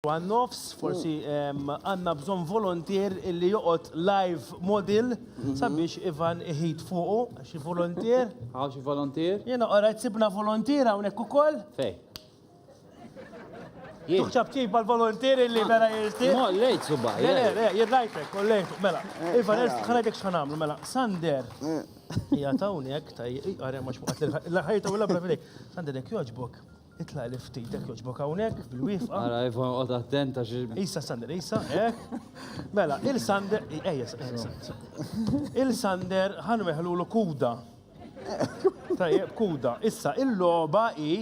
għan-nofs, forsi għandna bżonn voluntier illi joqgħod live model sabiex Ivan iħid fuqu. Xi voluntier? Għaw xi voluntier? Jiena qorajt sibna voluntier hawnhekk ukoll. Fej. Tuħċab kif mal-voluntier illi vera jirti. Mo, lejt suba. Le, le, le, jirrajtek, kollejt, mela. Ivan, ħanajtek xħanamlu, mela. Sander. Ija tawnek, taj, għarja maċ muqat l-ħajta u l-abra fidejk. Sander, jek joġbok. Itlaq li ftit hekk jogħġbok hawnhekk bil-wifqa. Ara jifhom qod attent għax. Isa Sander, Isa, hekk. Mela, il-Sander, ejja, il-Sander ħan meħlulu kuda. Tajjeb, kuda. Issa, il-logħba hi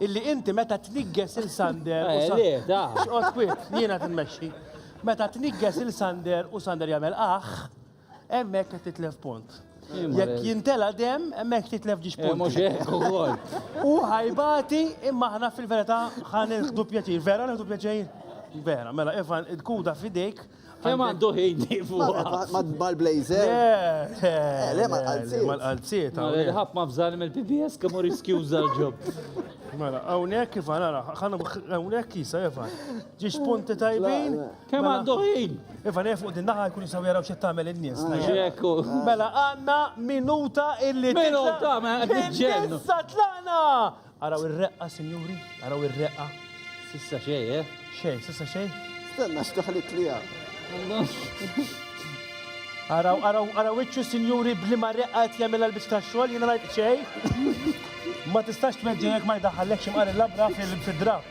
illi inti meta tnigges il-Sander. Eh, X'qod kwit, jiena tinmexxi. Meta tnigges il-Sander u Sander jagħmel aħ, Hemmhekk qed titlef punt. Jekk jintela dem, hemmhekk titlef ġiex eh, punt. Mhux hekk ukoll. U ħajbati imma aħna fil-verità ħan nieħdu pjaċir. Vera nieħdu pjaċir? Vera, mela Ivan, il-kuda fidejk. Kemm għandu ħin Ma tbal blazer. Eh, le, ma qalziet. Ma qalziet. Mela, ħadd ma fżal mill-PBS kemm hu riskjuża l-ġob. Mela, hawnhekk Ivan, ara, ħana hawnhekk jisa Ivan. Ġiex punti tajbin. Kemm Mela. għandu ħin? Iva, nejf fuq din naħa jkun jisaw jaraw xed tagħmel in-nies. Ġeku. Mela għanna minuta illi titla' Minuta, ma qed niġġennu. Fil-lista tlaqna! Araw ir-reqqa, sinjuri, araw ir-reqqa. Sissa xej, eh? Xejn, sissa xejn. Stenna x'daħlit li għam. Araw, araw, araw iċċu sinjuri bli ma reqqa qed jagħmilha l-biċċ tax-xogħol, jiena ngħid xejn. Ma tistax tmeġġi jekk ma jdaħħallekx imqar il-labra fil-draft.